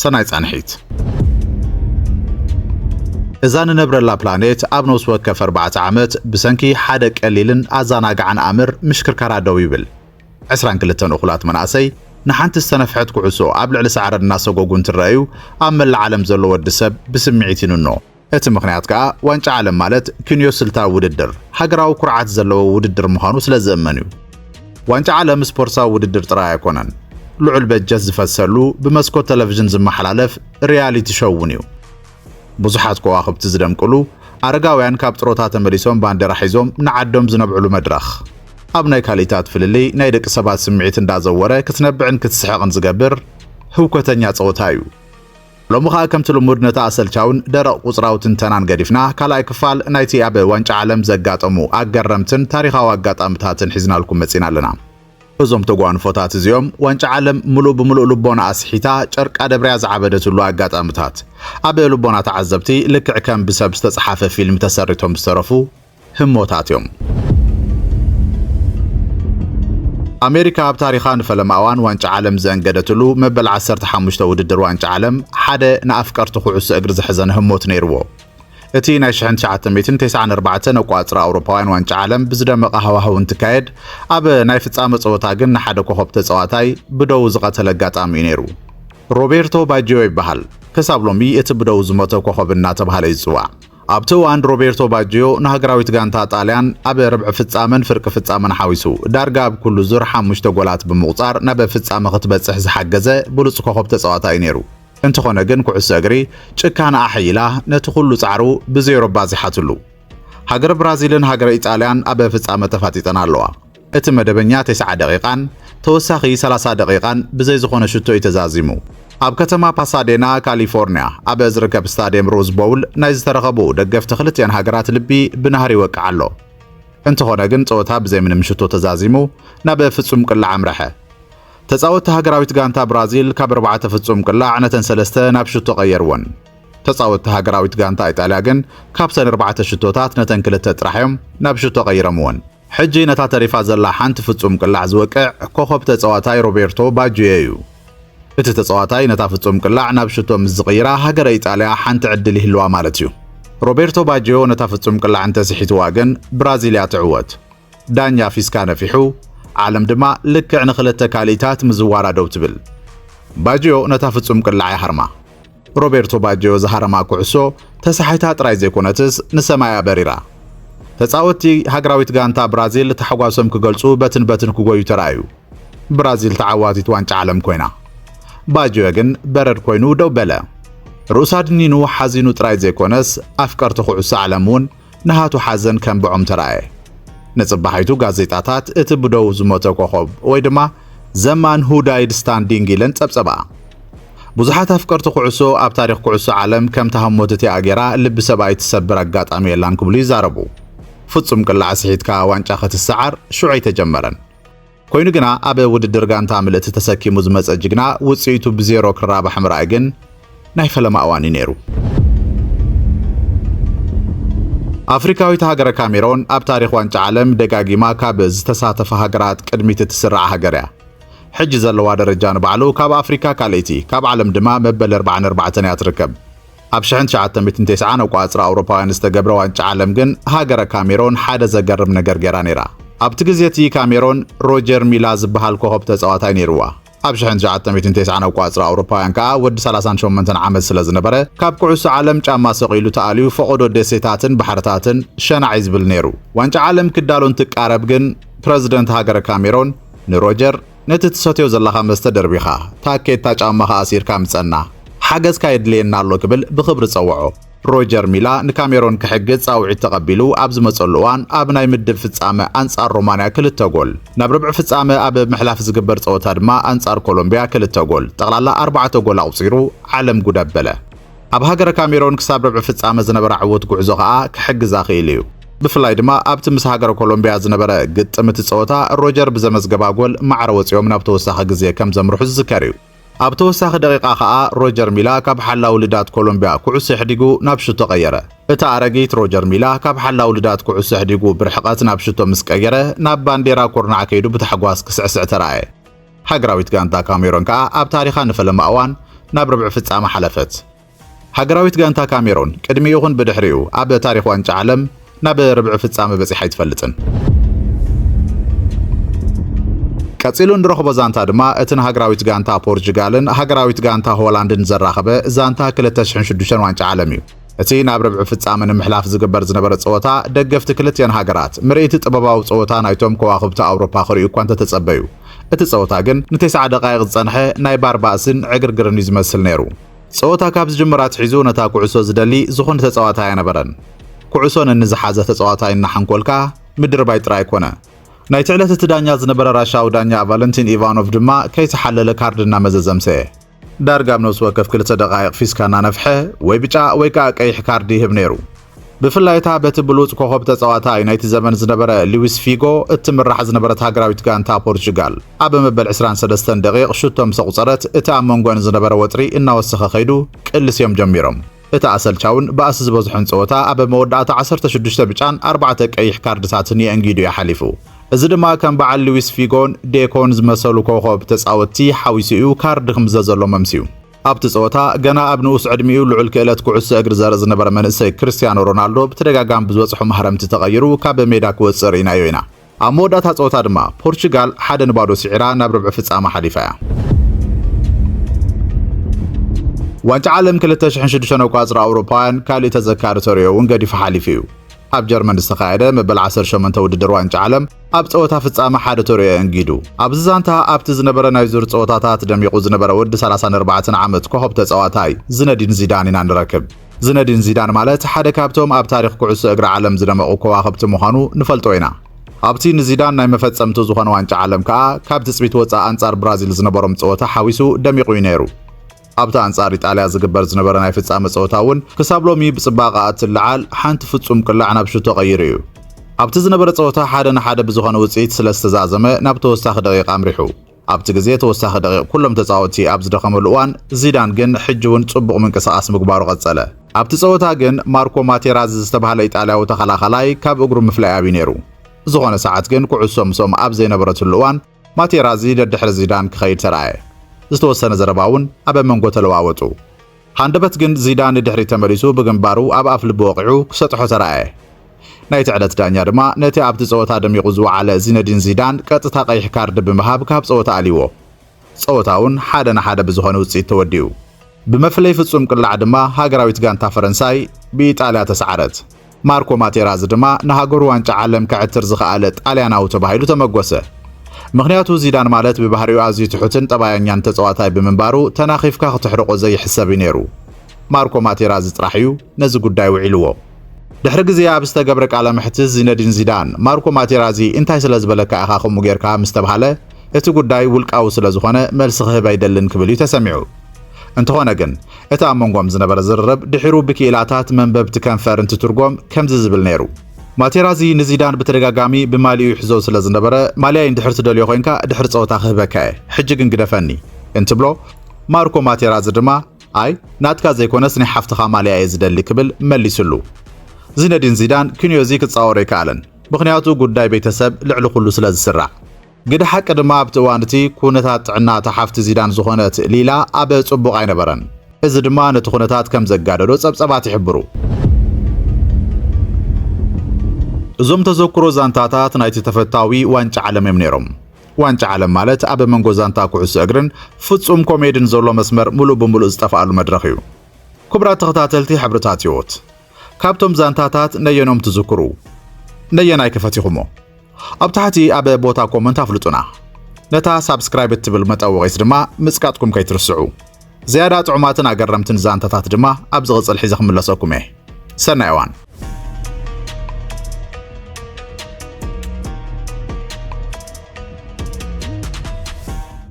ሰናይ ጻንሒት። እዛ ንነብረላ ፕላኔት ኣብ ነውስ ወከፍ ኣርባዕተ ዓመት ብሰንኪ ሓደ ቀሊልን ኣዛናጋዕን ኣምር ምሽክርካራ ደው ይብል። ዕስራን ክልተን እኹላት መናእሰይ ንሓንቲ ዝተነፍሐት ኩዕሶ ኣብ ልዕሊ ሳዕሪ እናሰጎጉ እንትረኣዩ ኣብ መላእ ዓለም ዘሎ ወዲ ሰብ ብስምዒት ይንኖ። እቲ ምኽንያት ከኣ ዋንጫ ዓለም ማለት ክንዮ ስልታዊ ውድድር፣ ሃገራዊ ኩርዓት ዘለዎ ውድድር ምዃኑ ስለ ዝእመን እዩ። ዋንጫ ዓለም ስፖርትሳዊ ውድድር ጥራይ ኣይኮነን፣ ልዑል በጀት ዝፈሰሉ፣ ብመስኮት ተለቪዥን ዝመሓላለፍ ሪያሊቲ ሾው እውን እዩ። ብዙሓት ከዋኽብቲ ዝደምቅሉ፣ ኣረጋውያን ካብ ጥሮታ ተመሊሶም ባንዴራ ሒዞም ንዓዶም ዝነብዕሉ መድረኽ። ኣብ ናይ ካልኢታት ፍልልይ ናይ ደቂ ሰባት ስምዒት እንዳዘወረ ክትነብዕን ክትስሕቕን ዝገብር ህውከተኛ ጸወታ እዩ። ሎሚ ከኣ ከምቲ ልሙድ ነቲ ኣሰልቻውን ደረቕ ቁጽራዊ ትንተናን ገዲፍና ካልኣይ ክፋል ናይቲ ኣብ ዋንጫ ዓለም ዘጋጠሙ ኣገረምትን ታሪኻዊ ኣጋጣምታትን ሒዝናልኩም መጺና ኣለና። እዞም ተጓንፎታት እዚኦም ዋንጫ ዓለም ምሉእ ብምሉእ ልቦና ኣስሒታ ጨርቃ ደብርያ ዝዓበደትሉ ኣጋጣምታት ኣብ ልቦና ተዓዘብቲ ልክዕ ከም ብሰብ ዝተጽሓፈ ፊልም ተሰሪቶም ዝተረፉ ህሞታት እዮም። ኣሜሪካ ኣብ ታሪኻ ንፈለማ እዋን ዋንጫ ዓለም ዘእንገደትሉ መበል ዓሰርተ ሓሙሽተ ውድድር ዋንጫ ዓለም ሓደ ንኣፍቀርቲ ኩዕሶ እግሪ ዘሕዘነ ህሞት ነይርዎ። እቲ ናይ ሽሕን ትሽዓተ ሚእትን ተስዓን ኣርባዕተን ኣቋጽራ ኣውሮፓውያን ዋንጫ ዓለም ብዝደመቐ ሃዋህው እንትካየድ ኣብ ናይ ፍጻመ ጸወታ ግን ንሓደ ኮኸብ ተጻዋታይ ብደው ዝቐተለ ኣጋጣሚ እዩ ነይሩ። ሮቤርቶ ባጂዮ ይበሃል። ክሳብ ሎሚ እቲ ብደው ዝሞተ ኮኸብ እናተባህለ እዩ ዝጽዋዕ። ኣብቲ እዋን ሮቤርቶ ባጅዮ ንሃገራዊት ጋንታ ጣልያን ኣብ ርብዒ ፍጻመን ፍርቂ ፍጻመን ሓዊሱ ዳርጋ ኣብ ኩሉ ዙር ሓሙሽተ ጎላት ብምቑጻር ናብ ፍጻመ ክትበጽሕ ዝሓገዘ ብሉጽ ኮኾብ ተጻዋታይ'ዩ ነይሩ። እንተኾነ ግን ኩዕሶ እግሪ ጭካነ ኣሐይላ ነቲ ኩሉ ጻዕሩ ብዜሮ ባዚሓትሉ። ሃገረ ብራዚልን ሃገረ ኢጣልያን ኣብ ፍጻመ ተፋጢጠን ኣለዋ። እቲ መደበኛ ተስዓ ደቒቓን ተወሳኺ ሰላሳ ደቒቓን ብዘይ ዝኾነ ሽቶ እዩ ተዛዚሙ። ኣብ ከተማ ፓሳዴና ካሊፎርንያ ኣብ ዝርከብ ስታድየም ሮዝ ቦውል ናይ ዝተረኸቡ ደገፍቲ ክልቲኣን ሃገራት ልቢ ብናህሪ ይወቅዕ ኣሎ። እንተኾነ ግን ጸወታ ብዘይ ምንም ሽቶ ተዛዚሙ ናብ ፍጹም ቅላዕ ኣምረሐ። ተጻወትቲ ሃገራዊት ጋንታ ብራዚል ካብ ኣርባዕተ ፍጹም ቅላዕ ነተን ሰለስተ ናብ ሽቶ ቀየርወን። ተጻወትቲ ሃገራዊት ጋንታ ኢጣልያ ግን ካብተን ኣርባዕተ ሽቶታት ነተን ክልተ ጥራሕ እዮም ናብ ሽቶ ቀይረምወን። ሕጂ ነታ ተሪፋ ዘላ ሓንቲ ፍጹም ቅላዕ ዝወቅዕ ኮኾብ ተጻዋታይ ሮቤርቶ ባጁዮ'ዩ። እቲ ተጻዋታይ ነታ ፍጹም ቅላዕ ናብ ሽቶ ምስ ዝቕይራ ሃገረ ኢጣልያ ሓንቲ ዕድል ይህልዋ ማለት'ዩ። ሮቤርቶ ባጁዮ ነታ ፍጹም ቅላዕ እንተ ስሒትዋ ግን ብራዚል'ያ ትዕወት። ዳኛ ፊስካ ነፊሑ፣ ዓለም ድማ ልክዕ ንኽልተ ካልኢታት ምዝዋራ ደው ትብል። ባጁዮ ነታ ፍጹም ቅላዕ'ያ ሃርማ። ሮቤርቶ ባጅዮ ዝሃረማ ኩዕሶ ተሳሒታ ጥራይ ዘይኮነትስ ንሰማይ'ያ በሪራ። ተጻወትቲ ሃገራዊት ጋንታ ብራዚል ታሕጓሶም ክገልጹ በትን በትን ክጎዩ ተራእዩ። ብራዚል ተዓዋቲት ዋንጫ ዓለም ኮይና። ባጅዮ ግን በረድ ኮይኑ ደው በለ። ርእሱ ኣድኒኑ ሓዚኑ ጥራይ ዘይኮነስ ኣፍቀርቲ ኩዕሶ ዓለም'ውን ንሃቱ ሓዘን ከንብዖም ተራእየ። ንጽባሒቱ ጋዜጣታት እቲ ብደዉ ዝሞተ ኮኾብ ወይ ድማ ዘ ማን ሁ ዳይድ ስታንዲንግ ኢለን ጸብጸባኣ። ብዙሓት ኣፍቀርቲ ኩዕሶ ኣብ ታሪኽ ኩዕሶ ዓለም ከምታ ህሞት እቲኣ ጌራ ልቢ ሰብኣይ እትሰብር ኣጋጣሚ የላን ክብሉ ይዛረቡ። ፍጹም ቅላዕ ስሒትካ ዋንጫ ክትሰዓር ሽዑ ኣይተጀመረን። ኮይኑ ግና ኣብ ውድድር ጋንታ ምልእቲ ተሰኪሙ ዝመጸ ጅግና ውጽኢቱ ብዜሮ ክራባሕ ምርኣይ ግን ናይ ፈለማ እዋን እዩ ነይሩ። ኣፍሪካዊት ሃገረ ካሜሮን ኣብ ታሪኽ ዋንጫ ዓለም ደጋጊማ ካብ ዝተሳተፋ ሃገራት ቅድሚት እትስራዕ ሃገር እያ። ሕጂ ዘለዋ ደረጃ ንባዕሉ ካብ ኣፍሪካ ካልኣይቲ ካብ ዓለም ድማ መበል 44 እያ ትርከብ። ኣብ ሽሕን ትሽዓተ ሚእትን ቴስዓን ኣቋጽራ ኣውሮፓውያን ዝተገብረ ዋንጫ ዓለም ግን ሃገረ ካሜሮን ሓደ ዘገርም ነገር ገይራ ነይራ። ኣብቲ ግዜ እቲ ካሜሮን ሮጀር ሚላ ዝበሃል ኮኸብ ተጻዋታይ ነይርዋ። ኣብ ሽሕን ትሽዓተ ሚእትን ቴስዓን ኣቋጽራ ኣውሮፓውያን ከኣ ወዲ ሰላሳን ሸሞንተን ዓመት ስለ ዝነበረ ካብ ኩዕሶ ዓለም ጫማ ሰቒሉ ተኣልዩ ፈቖዶ ደሴታትን ባሕርታትን ሸናዕ እዩ ዝብል ነይሩ። ዋንጫ ዓለም ክዳሎ እንትቃረብ ግን ፕረዚደንት ሃገረ ካሜሮን ንሮጀር ነቲ ትሰትዮ ዘለኻ መስተ ደርቢኻ፣ ታኬታ ጫማኻ ኣሲርካ ምጸና። ሓገዝካ የድልየና ኣሎ ክብል ብኽብሪ ጸውዖ። ሮጀር ሚላ ንካሜሮን ክሕግዝ ጻውዒት ተቐቢሉ ኣብ ዝመጸሉ እዋን ኣብ ናይ ምድብ ፍጻመ ኣንጻር ሮማንያ ክልተ ጎል፣ ናብ ርብዒ ፍጻመ ኣብ ምሕላፍ ዝግበር ጸወታ ድማ ኣንጻር ኮሎምብያ ክልተ ጎል፣ ጠቕላላ ኣርባዕተ ጎል ኣቑጺሩ ዓለም ጉድ ኣበለ። ኣብ ሃገረ ካሜሮን ክሳብ ርብዒ ፍጻመ ዝነበራ ዕዉት ጉዕዞ ከኣ ክሕግዛ ክኢሉ እዩ። ብፍላይ ድማ ኣብቲ ምስ ሃገረ ኮሎምብያ ዝነበረ ግጥም እቲ ጸወታ ሮጀር ብዘመዝገባ ጎል ማዕረ ወጺኦም ናብ ተወሳኺ ግዜ ከም ዘምርሑ ዝዝከር እዩ። ኣብ ተወሳኺ ደቂቃ ከኣ ሮጀር ሚላ ካብ ሓላዊ ልዳት ኮሎምብያ ኩዕሶ የሕዲጉ ናብ ሹቶ ቀየረ። እቲ ኣረጊት ሮጀር ሚላ ካብ ሓላዊ ልዳት ኩዕሶ ኣሕዲጉ ብርሕቐት ናብ ሹቶ ምስ ቀየረ ናብ ባንዴራ ኩርናዕ ከይዱ ብታሕጓስ ክስዕስዕ ተራእየ። ሃገራዊት ጋንታ ካሜሮን ከኣ ኣብ ታሪኻ ንፈለማ እዋን ናብ ርብዒ ፍጻመ ሓለፈት። ሃገራዊት ጋንታ ካሜሮን ቅድሚ ይኹን ብድሕሪኡ ኣብ ታሪኽ ዋንጫ ዓለም ናብ ርብዒ ፍጻመ በጺሓ ኣይትፈልጥን። ቀጺሉ እንረኽቦ ዛንታ ድማ እቲ ንሃገራዊት ጋንታ ፖርቹጋልን ሃገራዊት ጋንታ ሆላንድን ዘራኸበ ዛንታ 2006 ዋንጫ ዓለም እዩ። እቲ ናብ ርብዒ ፍጻመ ንምሕላፍ ዝግበር ዝነበረ ጸወታ፣ ደገፍቲ ክልቲኣን ሃገራት ምርኢት ጥበባዊ ጸወታ ናይቶም ከዋኽብቲ ኣውሮፓ ክርእዩ እኳ እንተተጸበዩ፣ እቲ ጸወታ ግን ንቴስዓ ደቓይቕ ዝጸንሐ ናይ ባር ባእስን ዕግርግርን እዩ ዝመስል ነይሩ። ጸወታ ካብ ዝጅምር ኣትሒዙ ነታ ኩዕሶ ዝደሊ ዝኾነ ተጻዋታይ ኣይነበረን። ኩዕሶ ነንዝሓዘ ተጻዋታይ እናሓንኮልካ ምድርባይ ጥራይ ኮነ። ናይቲ ዕለት እቲ ዳኛ ዝነበረ ራሻዊ ዳኛ ቫለንቲን ኢቫኖቭ ድማ ከይተሓለለ ካርድ እናመዘዘ ኣምሰየ። ዳርጋ ኣብ ነብሲ ወከፍ ክልተ ደቓይቕ ፊስካ እናነፍሐ ወይ ብጫ ወይ ከኣ ቀይሕ ካርድ ይህብ ነይሩ። ብፍላይ እታ በቲ ብሉጽ ኮኾብ ተጻዋታይ ናይቲ ዘመን ዝነበረ ሊዊስ ፊጎ እትምራሕ ዝነበረት ሃገራዊት ጋንታ ፖርቹጋል፣ ኣብ መበል ዕስራን ሰለስተን ደቒቕ ሹቶ ምስ ኣቑጸረት እቲ ኣብ መንጎኣን ዝነበረ ወጥሪ እናወሰኸ ከይዱ ቅልስዮም ጀሚሮም። እቲ ኣሰልቻውን ባእሲ ዝበዝሖን ጸወታ ኣብ መወዳእታ ዓሰርተ ሽዱሽተ ብጫን ኣርባዕተ ቀይሕ ካርድታትን የእንጊዱ እዩ ሓሊፉ። እዚ ድማ ከም በዓል ሉዊስ ፊጎን ዴኮን ዝመሰሉ ኮኾብ ተጻወትቲ ሓዊሱ እዩ ካርድ ክምዘዘሎም ኣምስዩ። ኣብቲ ጸወታ ገና ኣብ ንኡስ ዕድሚኡ ልዑል ክእለት ኩዕሶ እግሪ ዘርኢ ዝነበረ መንእሰይ ክርስትያኖ ሮናልዶ ብተደጋጋሚ ብዝበጽሖ ማህረምቲ ተቐይሩ ካብ ሜዳ ክወጽእ ርኢናዮ ኢና። ኣብ መወዳእታ ጸወታ ድማ ፖርቹጋል ሓደ ንባዶ ስዒራ ናብ ርብዒ ፍጻመ ሓሊፋ እያ። ዋንጫ ዓለም 2006 ኣቋጽራ ኣውሮፓውያን ካልእ ተዘካሪ ተርእዮ እውን ገዲፉ ሓሊፉ እዩ። ኣብ ጀርመን ዝተኻየደ መበል 18 ውድድር ዋንጫ ዓለም ኣብ ጸወታ ፍጻመ ሓደ ተርእዮ ኣንጊዱ። ኣብዚ ዛንታ ኣብቲ ዝነበረ ናይ ዙር ጸወታታት ደሚቑ ዝነበረ ወዲ 34 ዓመት ኮኾብ ተጻዋታይ ዝነዲን ዚዳን ኢና ንረክብ። ዝነዲን ዚዳን ማለት ሓደ ካብቶም ኣብ ታሪኽ ኩዕሶ እግሪ ዓለም ዝደመቑ ከዋኽብቲ ምዃኑ ንፈልጦ ኢና። ኣብቲ ንዚዳን ናይ መፈጸምቱ ዝኾነ ዋንጫ ዓለም ከኣ ካብ ትጽቢት ወጻኢ ኣንጻር ብራዚል ዝነበሮም ጸወታ ሓዊሱ ደሚቑ'ዩ ነይሩ። ኣብቲ ኣንጻር ኢጣልያ ዝግበር ዝነበረ ናይ ፍጻመ ጸወታ እውን ክሳብ ሎሚ ብጽባቐኣ እትለዓል ሓንቲ ፍጹም ቅላዕ ናብ ሹት ተቐይሩ እዩ። ኣብቲ ዝነበረ ጸወታ ሓደ ንሓደ ብዝኾነ ውጽኢት ስለዝተዛዘመ ናብ ተወሳኺ ደቒቕ ኣምሪሑ። ኣብቲ ግዜ ተወሳኺ ደቒቕ ኩሎም ተጻወትቲ ኣብ ዝደኸመሉ እዋን፣ ዚዳን ግን ሕጂ'ውን ጽቡቕ ምንቅስቓስ ምግባሩ ቀጸለ። ኣብቲ ጸወታ ግን ማርኮ ማቴራዚ ዝተባህለ ኢጣልያዊ ተኸላኻላይ ካብ እግሩ ምፍላይ ኣብዩ ነይሩ። ዝኾነ ሰዓት ግን ኩዕሶ ምስኦም ኣብ ዘይነበረትሉ እዋን፣ ማቴራዚ ደድሕሪ ዚዳን ክኸይድ ተራእየ። ዝተወሰነ ዘረባ'ውን ኣበ መንጎ ተለዋወጡ። ሃንደበት ግን ዚዳን ንድሕሪት ተመሊሱ ብግንባሩ ኣብ ኣፍልቡ ወቒዑ ክሰጥሖ ተራእየ። ናይቲ ዕለት ዳኛ ድማ ነቲ ኣብቲ ጸወታ ደሚቑ ዝወዓለ ዚነዲን ዚዳን ቀጥታ ቀይሕ ካርዲ ብምሃብ ካብ ጸወታ ኣልይዎ። ጸወታ'ውን ሓደ ን ሓደ ብዝኾነ ውጽኢት ተወዲኡ። ብመፍለይ ፍጹም ቅላዕ ድማ ሃገራዊት ጋንታ ፈረንሳይ ብኢጣልያ ተስዓረት። ማርኮ ማቴራዚ ድማ ንሃገሩ ዋንጫ ዓለም ከዐትር ዝኸኣለ ጣልያናዊ ተባሂሉ ተመጎሰ። ምኽንያቱ ዚዳን ማለት ብባህሪኡ ኣዝዩ ትሑትን ጠባያኛን ተጸዋታይ ብምንባሩ ተናኺፍካ ክተሕርቆ ዘይሕሰብ'ዩ ነይሩ። ማርኮ ማቴራዚ ጥራሕ'ዩ ነዚ ጉዳይ ውዒልዎ። ድሕሪ ግዜ ኣብ ዝተገብረ ቃለ መሕትት ዚነዲን ዚዳን ማርኮ ማቴራዚ እንታይ ስለ ዝበለካ ኢኻ ከምኡ ጌርካ ምስ ተብሃለ እቲ ጉዳይ ውልቃዊ ስለ ዝኾነ መልሲ ክህብ ኣይደልን ክብል'ዩ ተሰሚዑ። እንተኾነ ግን እቲ ኣብ መንጎም ዝነበረ ዝርርብ ድሒሩ ብክኢላታት መንበብቲ ከንፈር እንትትርጎም ከምዚ ዝብል ነይሩ። ማቴራዚ ንዚዳን ብተደጋጋሚ ብማልያኡ ይሕዞ ስለ ዝነበረ፣ ማልያይ እንድሕር ትደልዮ ኮይንካ ድሕሪ ጸወታ ክህበካ እየ፣ ሕጂ ግን ግደፈኒ እንትብሎ፣ ማርኮ ማቴራዚ ድማ ኣይ ናትካ ዘይኮነስ ናይ ሓፍትኻ ማልያ እየ ዝደሊ ክብል መሊስሉ። ዚነዲን ዚዳን ክንዮ'ዚ ክጻወሮ ኣይከኣለን፣ ምኽንያቱ ጉዳይ ቤተሰብ ልዕሊ ኩሉ ስለ ዝስራዕ። ግደ ሓቂ ድማ ኣብቲ እዋን እቲ ኩነታት ጥዕና እታ ሓፍቲ ዚዳን ዝኾነት ሊላ ኣብ ጽቡቕ ኣይነበረን። እዚ ድማ ነቲ ኩነታት ከም ዘጋደዶ ጸብጸባት ይሕብሩ። እዞም ተዘክሮ ዛንታታት ናይቲ ተፈታዊ ዋንጫ ዓለም እዮም ነይሮም። ዋንጫ ዓለም ማለት ኣብ መንጎ ዛንታ ኩዕሶ እግርን ፍጹም ኮሜድን ዘሎ መስመር ምሉእ ብምሉእ ዝጠፍኣሉ መድረኽ እዩ። ክቡራት ተኸታተልቲ ሕብርታት ህይወት፣ ካብቶም ዛንታታት ነየኖም ትዝክሩ? ነየናይ ከ ፈቲኹሞ? ኣብ ታሕቲ ኣብ ቦታ ኮመንት ኣፍልጡና ነታ ሳብስክራይብ እትብል መጠወቒት ድማ ምጽቃጥኩም ከይትርስዑ ዝያዳ ጥዑማትን ኣገረምትን ዛንታታት ድማ ኣብ ዝቕጽል ሒዘ ክምለሰኩም እየ ሰናይ እዋን